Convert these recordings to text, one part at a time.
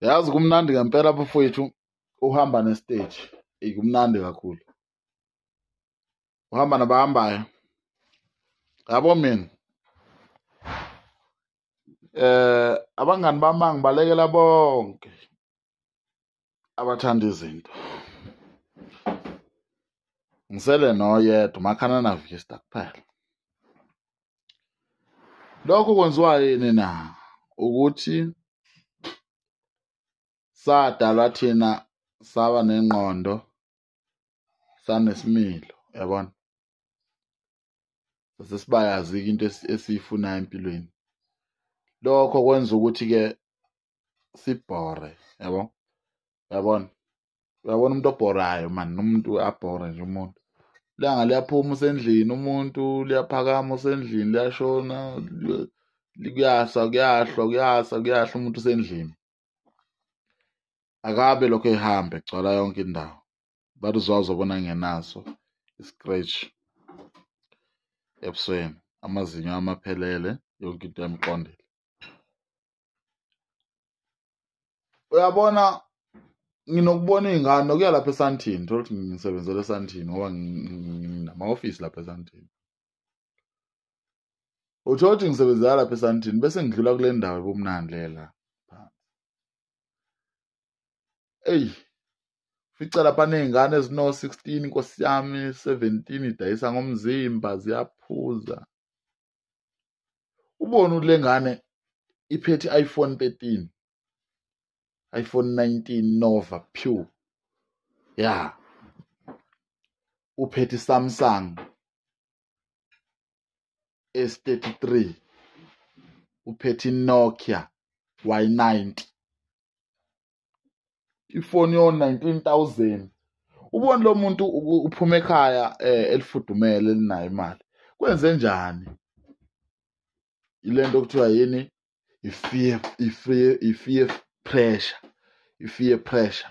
yazi kumnandi ngempela bafowethu uhamba nestage eyi kumnandi kakhulu uhamba nabahambayo yabo mina eh abangani bami ngibalekela bonke abathanda izinto ngisele noyedwa umakhana navista kuphela lokho kwenziwa yini na ukuthi sadalwa thina saba nengqondo sanesimilo yabona sesibayazi-ke into esiyifunayo empilweni lokho kwenza ukuthi-ke sibhore yabo yabona uyabona umuntu obhorayo mani nomuntu abhore nje umuntu ilanga liyaphuma usendlini umuntu liyaphakama usendlini liyashona kuyasa kuyahlwa kuyasa kuyahla umuntu usendlini akabe lokho ehambe gcwala yonke indawo bathi uzwazo bona ngenaso i-scratch ebusweni amazinyo amaphelele yonke into yamqondile uyabona nginokubona iy'ngane nokuya lapha esantini thola ukuthi ngisebenzela esantini ngoba nginama-ofisi lapha esantini uthola ukuthi ngisebenzela lapha esantini bese ngidlula kule ndawo ebumnandi lela eyi fica lapha ney'ngane ezino-sixteen nkosi yami seventeen idayisa ngomzimba ziyaphuza ubone ukuthi le ngane iphethe i-iphone thirteen iPhone 19 Nova Pure ya uphethe iSamsung esi-33 uphethe iNokia Y90 ifoni yo 19000 ubone lo muntu uphuma ekhaya eh, elifudumele elinayo imali kwenze njani ilento kuthiwa yini i-fear i-fear i-fear pressure i-fear pressure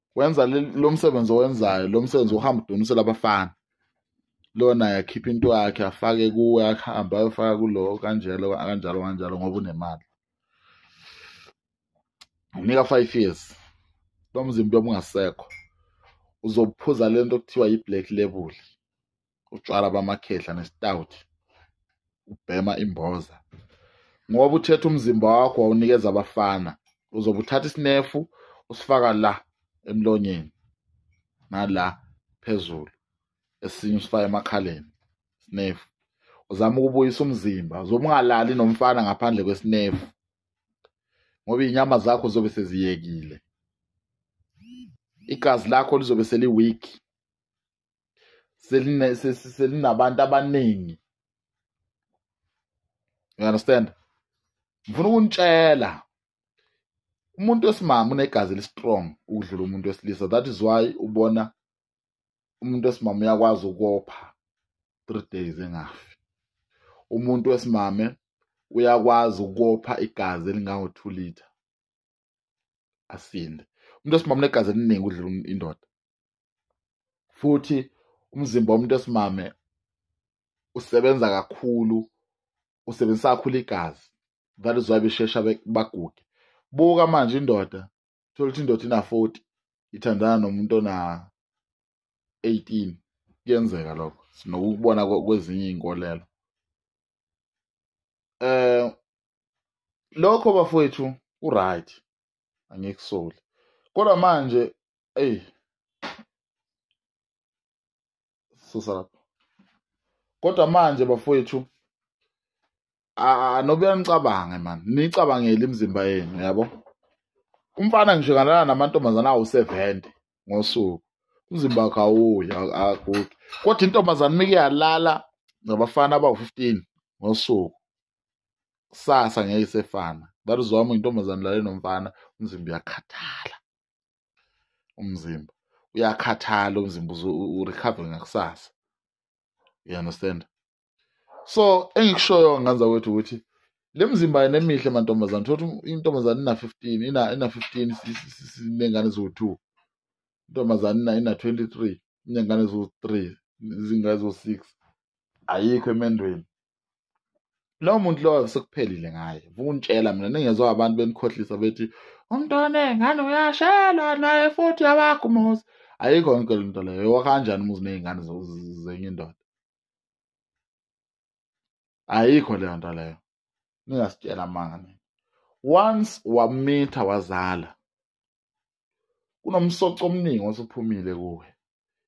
wenza lo msebenzi owenzayo lo msebenzi uhamba udonisela abafana lona yakhipha into yakhe afake kuwe akuhambe ayofaka kulo kanjalo kanjalo kanjalo ngoba unemali unika five years lo mzimba obungasekho uzophuza lento okuthiwa yi-black label utshwala bamakhehla nestout ubhema imboza ngoba uthetha umzimba wakho wawunikeza abafana uzobe uthatha isinefu usifaka la emlonyeni nala phezulu esinye usifaka emakhaleni sinefu uzama ukubuyisa umzimba uzobe ungalali nomfana ngaphandle kwesinefu ngoba iy'nyama zakho zobe seziyekile igazi lakho lizobe seliweak selinabantu abaningi you understand ngifuna ukunitshela umuntu wesimama unegazi elistrong ukudlula umuntu wesilisa that is why ubona umuntu wesimama uyakwazi ukopha three days engafi umuntu wesimame uyakwazi ukopha igazi elingango-two liter asinde umuntu wesimame unegazi eliningi udlula um-, indoda futhi umzimba womuntu wesimame usebenza kakhulu usebenzisa kakhulu igazi that is why beshesha baguge buka manje indoda thola ukuthi indoda ina-40 ithandana nomuntu ona-18 kuyenzeka lokho sinokukubona kwezinye iy'nkolelo eh lokho bafowethu uright angikusoli kodwa manje eyi susa lapho kodwa manje bafowethu anobuya nicabange mani nicabangele imizimba yenu yabo umfana ngisho kanana namantombazana awusevende ngosuku umzimba wakho awuyi agugi kodwa intombazane uma iyalala nabafana abawu-15 ngosuku kusasa ngeke isefana that is wami intombazane lale nomfana umzimba uyakhathala umzimba uyakhathala umzimba urecover ngakusasa you understand so engikushoyo nganza kwethu ukuthi le mzimba yena emihle mantombazane thothi intombazane ina 15 ina ina 15 sinengane zo 2 intombazane ina ina 23 inengane zo 3 izingane zo 6 ayikho emendweni lowo muntu lowo sekuphelile ngaye ukuntshela mina ningezwa abantu benikhohlisa bethi umntwana engane uyashelwa naye futhi yabakho umuzi ayikho yonke le nto leyo wakanjani umuzi ney'ngane zenye indoda ayikho leyo nto leyo ningasitshela amanga nina once wamitha wazala kunomsoco omningi osuphumile kuwe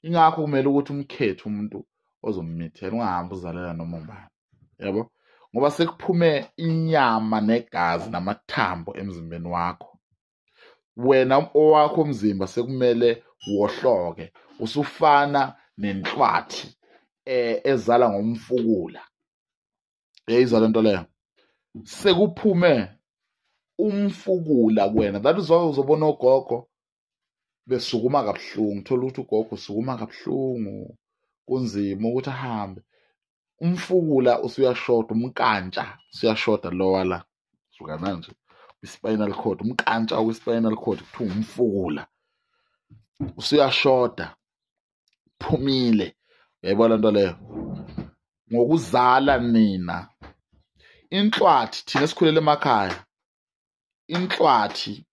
ingakho kumele ukuthi umkhethe umuntu ozommithela ungahambi uzalela noma ubani yabo ngoba sekuphume inyama negazi namathambo emzimbeni wakho wena owakho umzimba sekumele wohloke usufana nenhlwathi eh, ezala ngomfukula yayizwa lento leyo sekuphume umfukula kuwena that is why uzobona ogogo besukuma kabuhlungu thola ukuthi ugogo usukuma kabuhlungu kunzima ukuthi ahambe umfukula usuyashoda umkantsha usuyashoda lowa la suka manje i-spinal cord umkantsha we-spinal cord kuthiwa umfukula usuyashoda phumile uyayibona nto leyo ngokuzala nina inhlwathi thina esikhulele emakhaya inhlwathi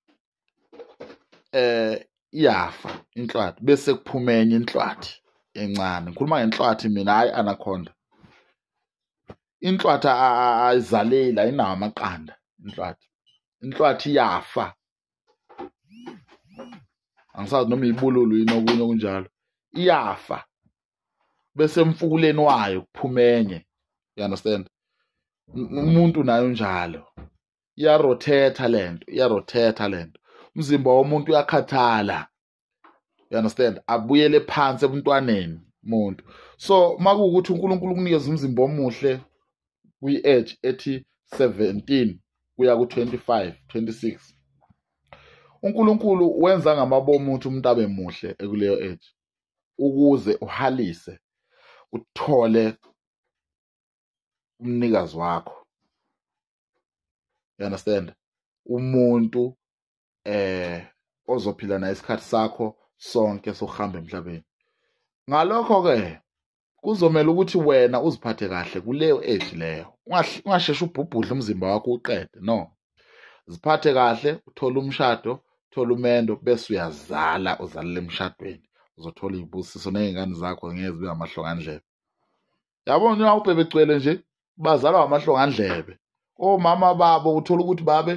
eh iyafa inhlwathi bese kuphuma enye inhlwathi encane ngikhuluma ngenhlwathi mina hayi anaconda inhlwathi ayizaleli ayinawo amaqanda inhlwathi inhlwathi iyafa angisazi noma ibululu yini okunye okunjalo iyafa bese emfukuleni wayo kuphuma enye you understand umuntu nayo njalo iyarothetha lento iyarothetha lento umzimba womuntu uyakhathala you understand abuyele phansi ebuntwaneni umuntu so makuwukuthi uNkulunkulu ukunikeza umzimba omuhle kwi-edge ethi 17 kuya ku-25 26 uNkulunkulu wenza ngamabomu ukuthi umuntu abe muhle ekuleyo edge ukuze uhalise uthole umnikazi wakho you understand umuntu eh ozophila naye isikhathi sakho sonke sokuhamba emhlabeni ngalokho ke kuzomela ukuthi wena uziphathe kahle kuleyo age leyo ungasheshe ubhubhudle umzimba wakho uqede no ziphathe kahle uthole umshado uthole umendo bese uyazala uzalele emshadweni uzothola izibusiso nezingane zakho ngeke zibe ngamahlongandlebe yabo nina ubhebe gcwele nje bazalwa ngamahlongandlebe omama babo uthola ukuthi babe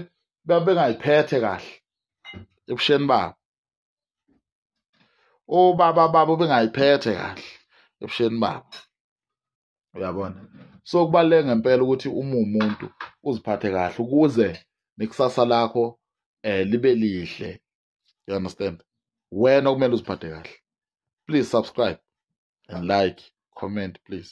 babengayiphethe kahle ebusheni babo ubaba baba ubengayiphethe kahle ebusheni babo uyabona so kubaluleke ngempela ukuthi uma umuntu uziphathe kahle ukuze nekusasa lakho eh libe lihle you understand wena kumele uziphathe kahle please subscribe and like comment please